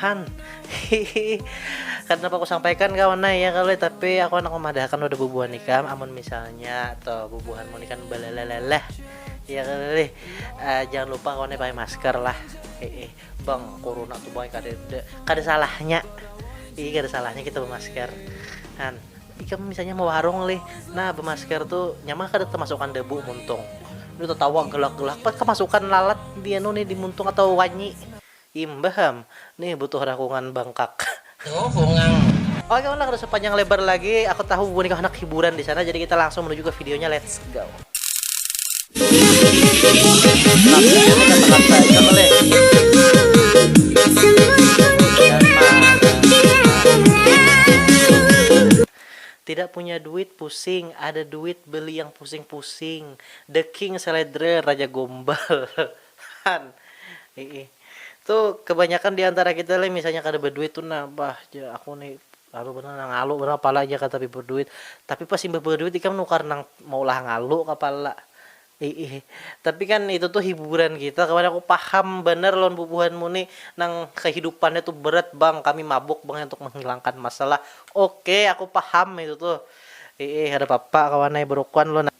Han, hihi, kada dapat kusampaikan kawan nah ya kali tapi aku handak memadahakan wadah bubuhan ikam amun misalnya atau bubuhanmu ni kan baleleleleh ya kali uh, jangan lupa kawan pakai masker lah hihi bang corona tuh bang kada kada salahnya hihi kada salahnya kita bermasker Han ikam misalnya mau warung lih nah bermasker tuh nyaman kada termasukkan debu muntung itu tertawa gelak-gelak pas kemasukan lalat dia nih di muntung atau wanyi Imbah am, nih butuh rakungan bangkak. Tuh bungang. Oke ulah kada usah panjang lebar lagi, aku tahu bubuhan ikam handak hiburan di sana, jadi kita langsung menuju ke videonya, let's go. Tidak punya duit pusing, ada duit beli yang pusing-pusing, the king seledrer, raja gombal. Han. Hiih. Tu kebanyakan di antara kita leh misalnya kada baduit tu nah, bah jar aku ni lalu banar nah ngalu banar kepala jar kada tapi baduit. Tapi pas imbah baduit ikam nukar nang maulah ngalu kepala. Hiih. Tapi kan itu tu hiburan kita kawan aku paham banar lawan bubuhanmu ni nang kehidupannya tu berat bang, kami mabuk bang untuk menghilangkan masalah. Oke aku paham itu tuh. Hiih, kada papa kawan ai berukuan lo nah.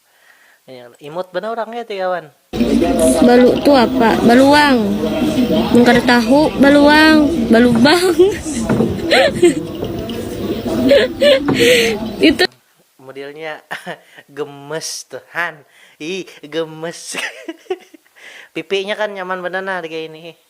Imut banar urangnya ti kawan. Balu tu apa? Baluang. Mun kada tahu, baluang, balubang. Itu modelnya gemes tuh han. Ih, gemes. Pipinya kan nyaman benar nah kayak ini.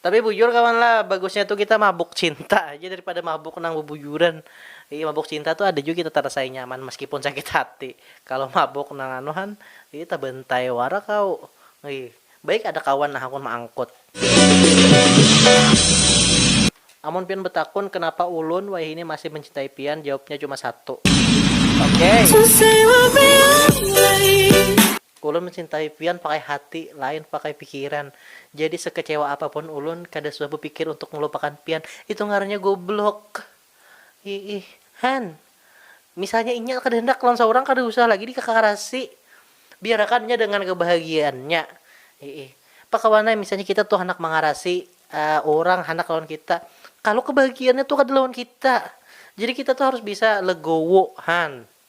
Tapi bujur kawan lah, bagusnya tu kita mabuk cinta haja daripada mabuk nang bubujuran. Jadi mabuk cinta tu ada jua kita tarasai nyaman meskipun sakit hati. Kalo mabuk nang anu han, jadi tabantai wara kaw. Baik ada kawan nang hakun maangkut. Amun pian batakun kenapa ulun wayahini masih mencintai pian, jawabnya cuma satu. Oke. Ulun mencintai pian pakai hati, lain pakai pikiran. Jadi sekecewa apapun ulun, kada suah bepikir untuk melupakan pian. Itu ngarannya goblok. Iih. Han. Misalnya inya kada handak lawan saurang kada usah lagi dikakarasi. Biarakan inya dengan kebahagiaannya. Iih. Pakawanai misalnya kita tu handak mangarasi urang handak lawan kita. Kalu kebahagiaannya tu kada lawan kita. Jadi kita tu harus bisa legowo. Han.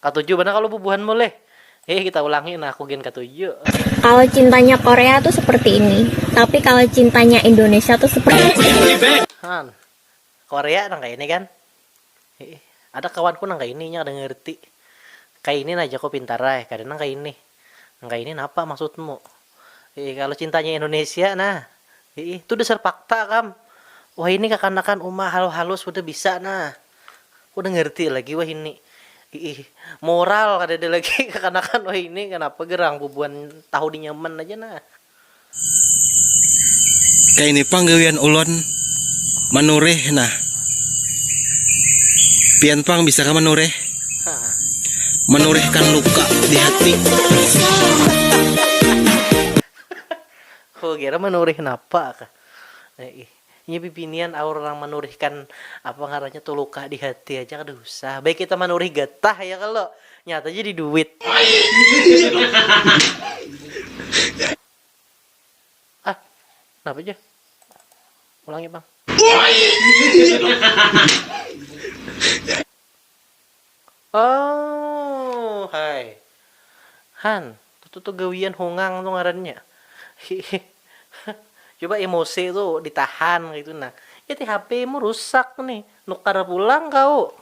Katuju banar kalu bubuhanmu leh. Hih kita ulangi nah aku gin katuju. Kalau cintanya Korea tuh seperti ini, tapi kalau cintanya Indonesia tuh seperti ini. Hah, Korea nang kaya ini kan? Hiih, ada kawanku nang kaya ini inya kada ngerti. Kaya ini nah jaku pintar ai, kada nang kaya ini. Nang kaya ini napa maksudmu? Hiih kalu cintanya Indonesia nah. Hiih tu dasar fakta kam. Wahini kakanakan uma halus-halus sudah bisa nah. Sudah ngerti lagi wahini. Hiih moral kadada lagi kakanakan wahini kanapa gerang bubuhan tahu di nyaman aja nah. Kaya ini pang gawian ulun manurih nah. Pian pang bisa kah manurih? Menorehkan luka di hati. Ku kira menoreh napa kah. Inya bibinian aur nang menorehkan apa ngarannya tu luka di hati aja kada usah. Baik kita menoreh getah ya kalo. Nyata jadi duit. Ah, napa jar? Ulangi pang. Ooh hai. Han, tutu tu gawian hungang tu ngarannya. Hihih. Coba emosi tu ditahan kaitu nah. Iti HP mu rusak nih, nukar pulang kauk.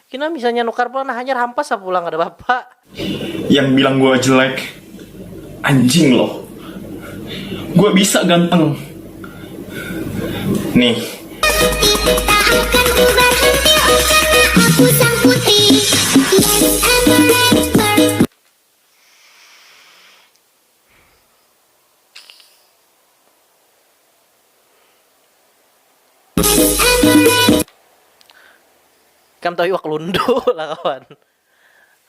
Pina misalnya nukar pulang nah hanyar hampas lah pulang kada papa. Yang bilang gua jelek anjing loh. Gua bisa ganteng. Nih. Ikam tahu iwak lundu lah kawan.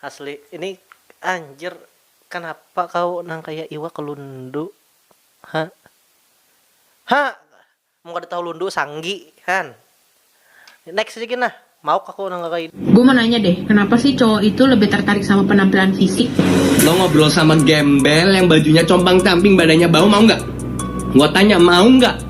Asli ini anjir kanapa kau nang kaya iwak lundu ha ha mun kada tahu lundu sanggi han next lagi nah mauk aku nang kaya ini. Gue mau nanya deh, kenapa sih cowok itu lebih tertarik sama penampilan fisik? Lo ngobrol sama gembel yang bajunya compang-camping badannya bau mau nggak? Gue tanya mau nggak?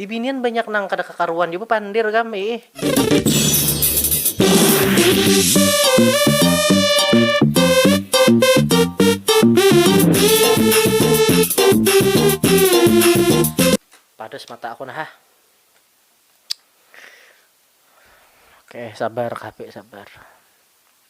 Bibinian banyak nang kada kakaruan jua bapandir gam iih. Padas mata aku nah hah. Oke sabar kp sabar.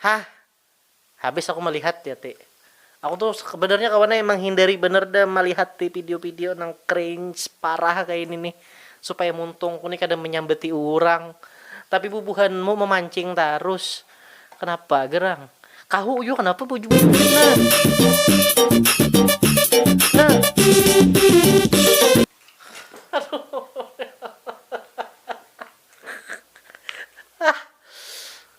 Hah. Habis aku malihat ya ti. Aku tu sebenarnya kawan ai menghindari banar dah malihat ti pidio-pidio nang cringe parah kaini nih. Supaya muntungku nih kada menyambati urang. Tapi bubuhanmu memancing tarus. Kenapa gerang. Kahu jua kenapa baju-baju kena. Aduh.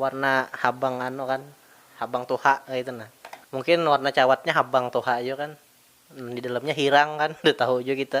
Warna habang anu kan, habang tuha kaitu nah. Mungkin warna cawatnya habang tuha jua kan. Di dalamnya hirang kan, kada tahu jua kita.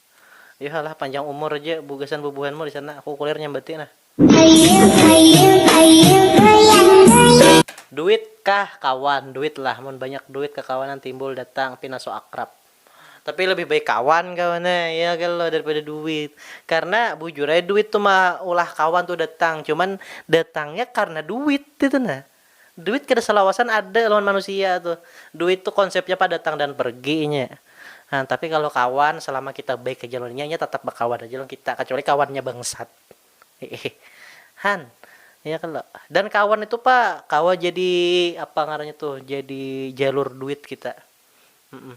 Yuha lah panjang umur ja bu gasan bubuhan mu disana aku kulir nyambati nah. Duit kah kawan duit lah mun banyak duit kakawanan timbul datang pina so akrab. Tapi lebih baik kawan kawan ai ya kalo daripada duit karna bujur ai duit tu maulah kawan tu datang cuman datangnya karna duit itu nah. Duit kada salawasan ada lawan manusia tuh. Duit tuh konsepnya padatang dan pergi inya. Nah, tapi kalau kawan, selama kita baik haja lawan inya, inya tatap bakawan haja lawan kita, kacuali kawannya bangsat. Hehe. Han. Iya kalo. Dan kawan itu pa kawa jadi apa ngarannya tuh, jadi jalur duit kita.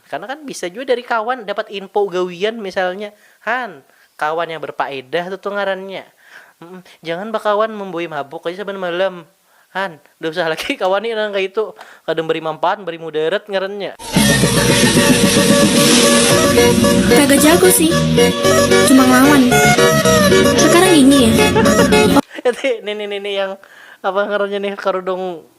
Karena kan bisa jua dari kawan dapat info gawian misalnya, han, kawan yang berpaedah tu tu ngarannya, jangan bakawan membawai mabuk aja saban malam, han, kada usah lagi kawan ni nang kaya itu, kada membari manfaat membari mudarat ngarannya. Kagak jago sih, cuma ngelawan sekarang ini ya. Nini nini yang apa ngarannya nih karudung.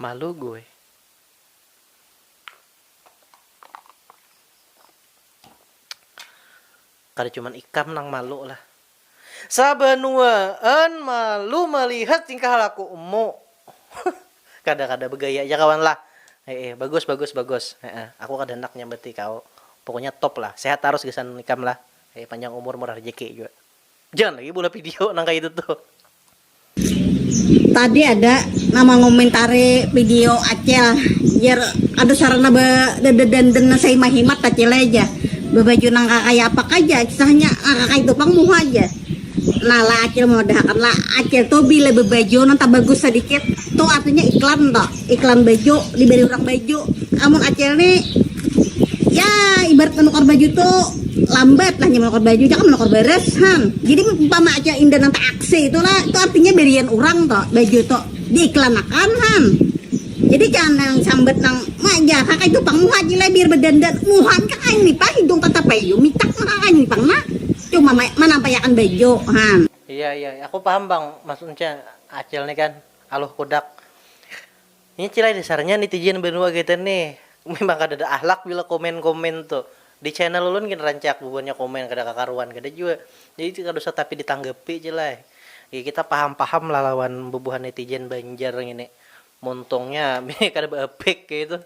Malu gue. Kada cuman ikam nang malu lah. Sabanuaan malu malihat tingkah lakumu. kada kada bagaya ja kawan lah. Heeh bagus bagus bagus. Heeh aku kada handak nyambati kau. Pokoknya top lah. Sehat tarus gasan ikam lah. Heeh panjang umur murah rejeki jua. Jangan lagi beulah video nang kaya itu tuh. Tadi ada nang mangumentari video Acel, jer ada sarana bededandan nang sahimat-himat Acel ai ja, bebaju nang kakaya apakah ja kisahnya, nang kakaya itu pang muha ja. Nah lah Acel maudahakan lah, Acel tu bila bebaju nang tabagus sadikit tu artinya iklan to. iklan baju diberi orang baju amun acel ni ya ibarat menukar baju tu lambat lah menukar baju jangan menukar beres han jadi umpama acel indah nanti aksi itu lah itu artinya berian orang to baju tu diiklanakan han jadi jangan yang sambat nang mak jah kakak itu pang muha jila biar berdandan muhan kakak ini pang hidung kata payu mitak mah kakak ini pang nak cuma manampayakan baju han. Iya iya aku paham pang maksudnya acil ni kan. Aluh kudak. Inya cilai dasarnya nitizen banua gaiten ni. Memang kadada ahlak bila komen komen tu. Di channel ulun gin rancak bubuhannya komen kada kakaruan kada jua. Jadi tu kada usah tapi ditanggapi cilai. Ya kita paham paham lah lawan bubuhan netizen banjar ngini. Muntungnya bini kada ba apik kaitu.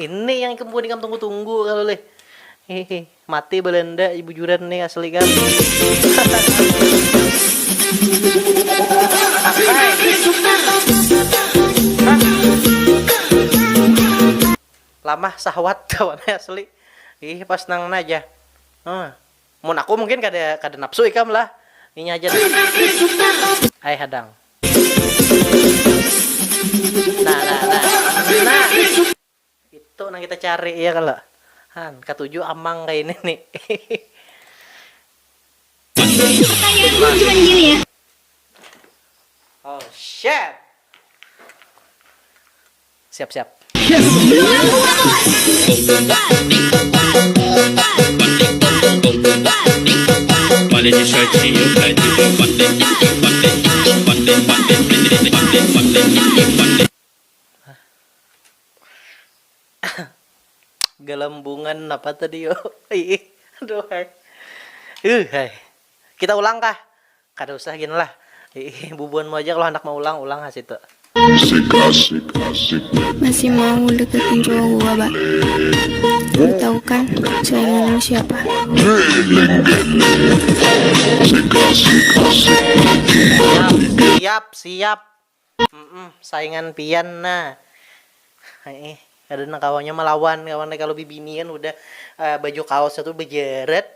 Ini yang ikam buat ikam tunggu-tunggu kalau leh. Hehe, mati Belanda bujuran nih asli kan. Lamah sahwat kawan asli. Ih pas nang aja. Hmm. Mun aku mungkin kada kada napsu ikam lah inya haja nah ai hadang nah nah nah nah itu nang kita cari iya kalo han katuju amang kaya ini ni oh shit. Siap siap. Galambungan napa tadi yo? Iih, aduhai. Iih, hai. Kita ulang kah? Kada usah gin lah. Hiih bubuhan muaja kalo handak maulang ulang ha situ. Musik asik asik net. Masih mau deketi roh gua ba. Baru tahu kan selain Nunu siapa. Geleng geleng. Musik asik asik net. Siap siap siap. Mmm saingan pian nah heeh kada nang kawanya malawan kawan ai kalu bibini kan hudah baju kaosnya tu bejaret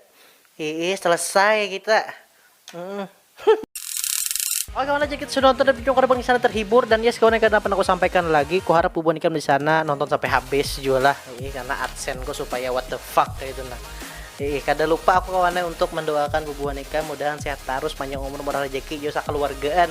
heeh selesai kita mmm. Oke kawan ai jika sudah nonton dan berjuang kada pengisana terhibur dan yes kawan ai kada pernah kusampaikan lagi kuharap bubuhan ikam disana nonton sampai habis jua lah heeh karena adsense ku supaya what the fuck kaitu nah heeh kada lupa aku kawan ai untuk mendoakan bubuhan ikam mudahan sehat tarus panjang umur murah rejeki jua sakaluargaan.